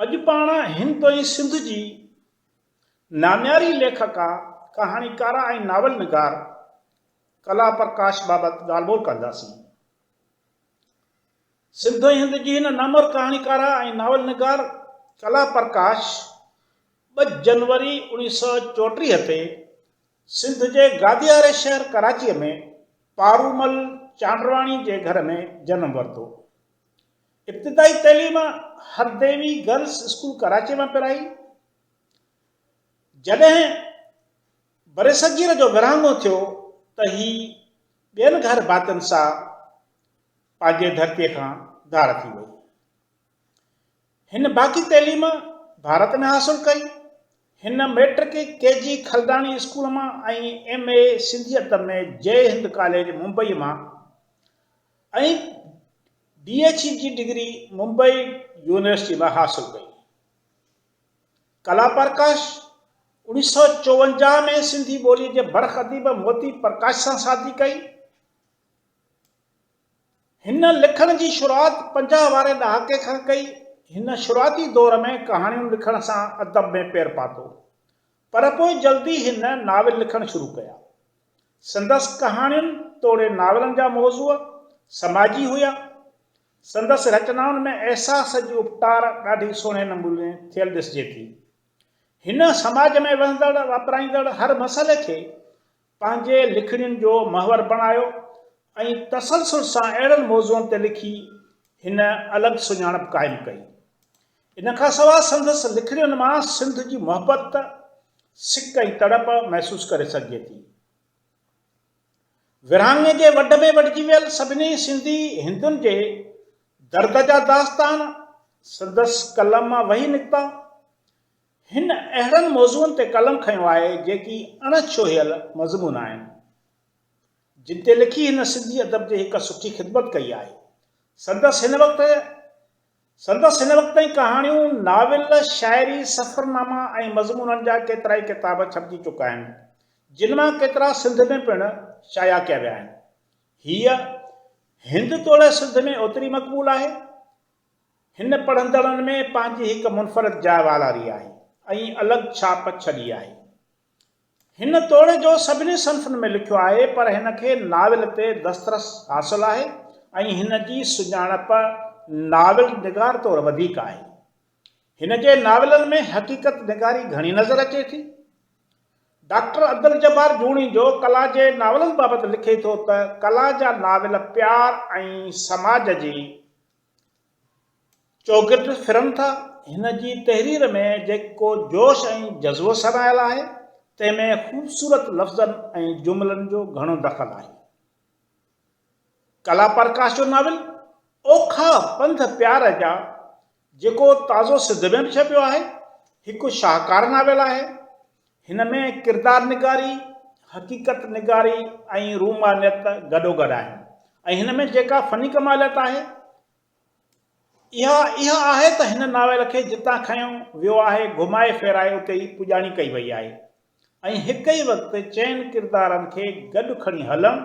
اڄ پاڻ هند ۽ سنڌ جي نامياري ليکڪا، ڪهاڻيڪاره ۽ ناول نگار ڪلا پرڪاش بابت ڳالهه ٻولهه ڪنداسين. سنڌ ۽ هند جي هن نامور ڪهاڻيڪاره ۽ ناول نگار ڪلا پرڪاش ٻه جنوري اوڻيهه سؤ چوٽيهه تي سنڌ جي گادياري شهر ڪراچيء ۾ پارومل چانڊرواڻي جي گهر ۾ جنم ورتو. ابتدائي تعليم هرديوي گرلس اسڪول ڪراچيء مان پرائي. جڏهن برصغير جو ورهاڱو ٿيو ته هي ٻين گهر ڀاتين سان پنهنجي ڌرتيء کان ڌار ٿي وئي. هن باقي تعليم ڀارت ۾ حاصل ڪئي. هن مئٽرڪ ڪي جي خلداڻي اسڪول مان ۽ ايم اي سنڌيت ۾ جئي هند ڪاليج ممبئي مان ۽ بي ايڇ اي جي ڊگري ممبئي يونيورسٽي مان حاصل ڪئي. ڪلا پرڪاش اوڻيهه سؤ چوونجاهه ۾ سنڌي ٻوليء جي برک اديب موتي پرڪاش سان شادي ڪئي. هن لکڻ جي شروعات پنجاهه واري ڏهاڪي کان ڪئي. هن شروعاتي دور ۾ ڪهاڻيون لکڻ سان ادب ۾ پير پاتو، پر پوء جلدي هن ناول لکڻ شروع ڪيا. سندس ڪهاڻين توڙي ناولن جا موضوع سماجي هيا. سندس رچنائن ۾ احساس جي اپٽار ڏاڍي سهڻي نموني ٿيل ڏسجي ٿي. هن سماج ۾ وهندڙ واپرائيندڙ هر مسئلي کي پنهنجي لکڻين جو محور بڻايو ۽ تسلسل سان اهڙن موضوعن تي لکي هن الڳ سڃاڻپ قائم ڪئي. ان کان سواء سندس لکڻين مان سنڌ جي محبت، سڪ ۽ تڙپ محسوس ڪري سگهجي ٿي. ورهاڱي جي وڍ ۾ وڍجي ويل سڀني سنڌي هندن جي درد جا داستان سندس قلم مان وهي نڪتا. هن اهڙن موضوعن تي قلم کنيو آهي جيڪي اڻ ڇهيل مضمون آهن جن تي لکي هن سنڌي ادب جي هڪ سٺي خدمت ڪئي آهي. سندس هن وقت سندس هن وقت تائين ڪهاڻيون، ناول، شاعري، سفرناما ۽ مضمونن جا ڪيترائي ڪتاب ڇپجي چڪا آهن جن مان ڪيترا سنڌ ۾ پڻ شايع ڪيا ويا آهن. هيء هند توڙي سنڌ ۾ اوتري مقبول آهي. هن پڙهندڙن ۾ پنهنجي هڪ منفرد جاء والاري آهي ۽ الڳ ڇاپ ڇڏي آهي. هن توڙي جو سڀني صنفن ۾ لکيو آهي پر هن کي ناول تي دسترس حاصل آهي ۽ هن جي سڃاڻپ ناول نگار طور وڌيڪ آهي. هن جي ناولن ۾ حقيقت نگاري گهڻي نظر اچي ٿي. ڊاڪٽر عبدالجبار جوڻيجو ڪلا جي ناولن بابت لکي ٿو ته ڪلا جا ناول پيار ۽ سماج جي چوگرد ڦرن ٿا. هن جي تحرير ۾ جيڪو جوش ۽ جذبو سرهايل آهي، تنهن ۾ خوبصورت لفظن ۽ جملن جو گهڻو دخل آهي. ڪلا پرڪاش جو ناول اوکا پنڌ پيار جا جيڪو تازو سنڌ ۾ به ڇپيو آهي، هڪ شاهڪار ناول آهي. هن ۾ ڪردار نگاري، حقيقت نگاري ۽ رومانيت گڏوگڏ آهن ۽ هن ۾ جيڪا فني ڪماليت آهي، اها اها آهي ته هن ناول کي جتان کنيو ويو آهي، گهمائي ڦيرائي اتي ئي پڄاڻي ڪئي وئي آهي ۽ هڪ ئي وقت چئن ڪردارن کي گڏ کڻي هلڻ،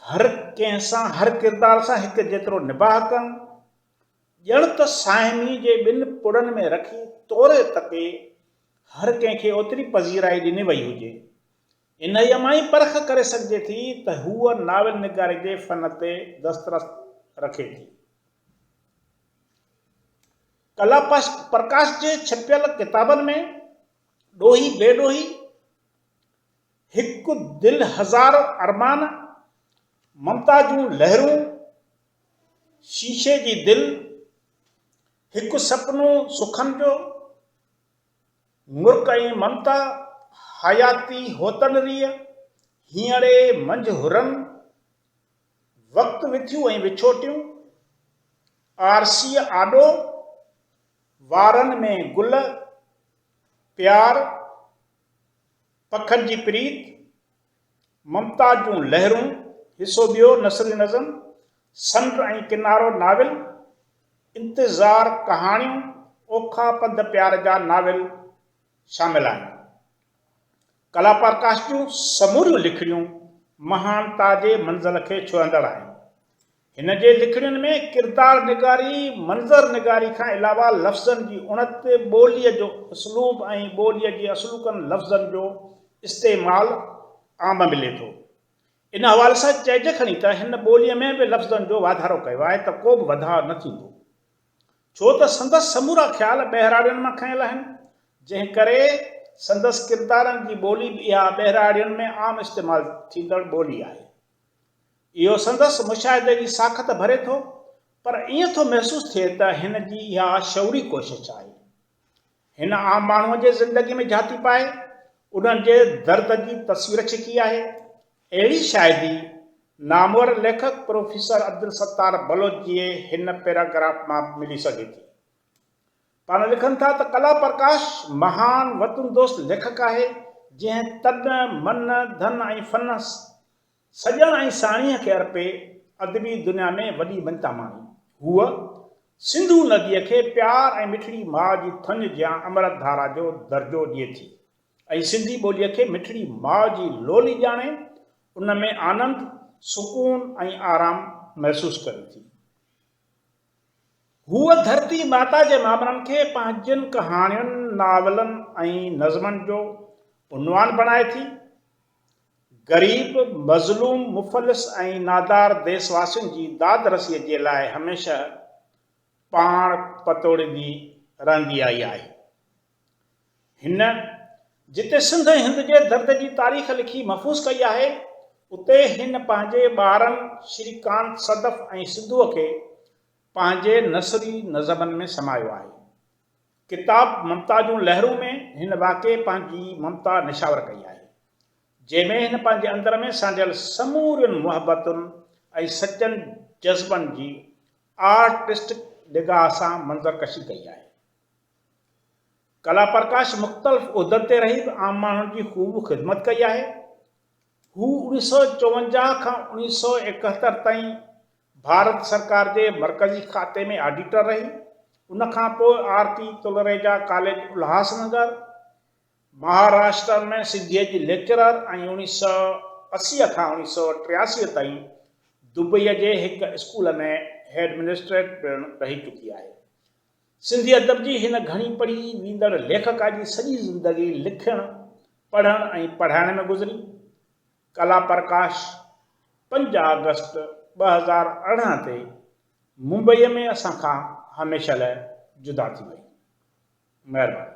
هر ڪنهن سان، هر ڪردار سان هڪ جيترو نباهه ڪرڻ، ڄڻ ته صائمي جي ٻن پڙن ۾ رکي توري تپي هر ڪنهن کي اوتري پذيرائي ڏني وئي هجي. انهيء مان ئي پرک ڪري سگهجي ٿي ته هوء ناول نگاري جي فن تي دسترس رکي ٿي. ڪلا پرڪاش جي ڇپيل ڪتابن ۾ ڏوهي بي ڏوهي، هڪ دل هزار ارمان، ممتا جون لهرون، شيشي جي دل، هڪ سپنو سخن جو، مرڪ ۽ ممتا، حياتي هوتن ريء، هينئڙي منجهه حرن، وقت وٿيون ۽ وڇوٽيون، آرسيء آڏو، وارن ۾ گل، پيار، پکن جي پريت، ممتاز جون لهرون، حصو ٻيو، نثري نظم، سمنڊ ۽ ڪنارو ناول، انتظار، ڪهاڻيون، اوکا پنڌ پيار جا ناول شامل آهن. ڪلاپرڪاش جون سموريون لکڻيون مهانتا جي منزل کي ڇهندڙ آهن. هن جي لکڻين ۾ ڪردار نگاري، منظر نگاري کان علاوه لفظن جي اڻت، ٻوليء جو اسلوب ۽ ٻوليء جي اصلوڪن لفظن جو استعمال عام ملي ٿو. ان حوالي سان چئجي کڻي ته هن ٻوليء ۾ به لفظن جو واڌارو ڪيو آهي ته ڪو به وڌاء نه ٿيندو. ڇو ته سندس سمورا خيال ٻهراڙين مان کنيل آهن، جنهن ڪري سندس ڪردارن جي ٻولي به اها ٻهراڙين ۾ عام استعمال ٿيندڙ ٻولي آهي. اهو سندس مشاهدي جي ساخت ڀري ٿو، پر ائين ٿو محسوس ٿئي ته هن جي اها شعوري ڪوشش آهي. هن عام ماڻهوء جي زندگي ۾ جهاتي پائي، انهن جي درد جي تصوير ڇڪي آهي. اهڙي شاهدي نامور ليکڪ پروفيسر عبدالستار بلوچ جي هن پيراگراف مان به ملي سگهي ٿي. پاڻ لکن ٿا ته ڪلا پرڪاش مهان وطن دوست ليکڪ آهي، جنهن تن، من، ڌن ۽ فن سڄڻ ۽ ساڻيهه کي ارپي ادبي دنيا ۾ وڏي مڃتا ماڻي. هوء سنڌو نديء کي پيار ۽ مٺڙي ماء جي ٿڃ جيان امرت ڌارا جو درجو ڏئي ٿي ۽ سنڌي ٻوليء کي مٺڙي ماء جي لولي ڄاڻي ان ۾ آنند، سڪون ۽ آرام محسوس ڪري ٿي. هوء ڌرتي ماتا جي مامرن کي پنهنجين ڪهاڻين، ناولن ۽ نظمن جو عنوان بڻائي ٿي. غريب، مظلوم، مفلس ۽ نادار ديس واسين جي داد رسيء جي لاء هميشه پاڻ پتوڙيندي رهندي آئي آهي. هن جتي سنڌ ۽ هند جي درد جي تاريخ لکي محفوظ ڪئي آهي، اتي هن پنهنجي ٻارن شري ڪانت صدف ۽ سنڌوء کي پنهنجي نثري نظمن ۾ سمايو آهي. ڪتاب ممتا جون لهرون ۾ هن واقعي پنهنجي ممتا نشاور ڪئي آهي، جنهن ۾ هن پنهنجي اندر ۾ سانڍيل سمورين محبتن ۽ سچن جذبن جي آرٽسٽڪ نگاهه سان منظر ڪشي ڪئي آهي. ڪلا پرڪاش مختلف عهدن تي رهي به عام ماڻهن جي خوب خدمت ڪئي آهي. هو اوڻيهه سؤ چوونجاهه کان اوڻيهه سؤ ايڪهتر تائين ڀارت سرڪار جي مرڪزي کاتي ۾ آڊيٽر رهي. ان کان پوء R P Talreja college Ulhas Nagar, Maharashtra ۾ سنڌيء جي ليڪچرر ۽ اوڻيهه سؤ اسي کان اوڻيهه سؤ ٽياسي تائين دبئيء جي هڪ اسڪول ۾ هيڊمنسٽريٽر پڻ رهي چڪي آهي. سنڌي ادب جي هن گهڻي پڙهي ويندڙ ليکڪا جي سڄي زندگي لکڻ، پڙهڻ ۽ پڙهائڻ ۾ گذري. ڪلا پرڪاش، پنج آگسٽ ٻه هزار ارڙهن تي ممبئيء ۾ اسان کان هميشه لاء جدا ٿي وئي. مهرباني.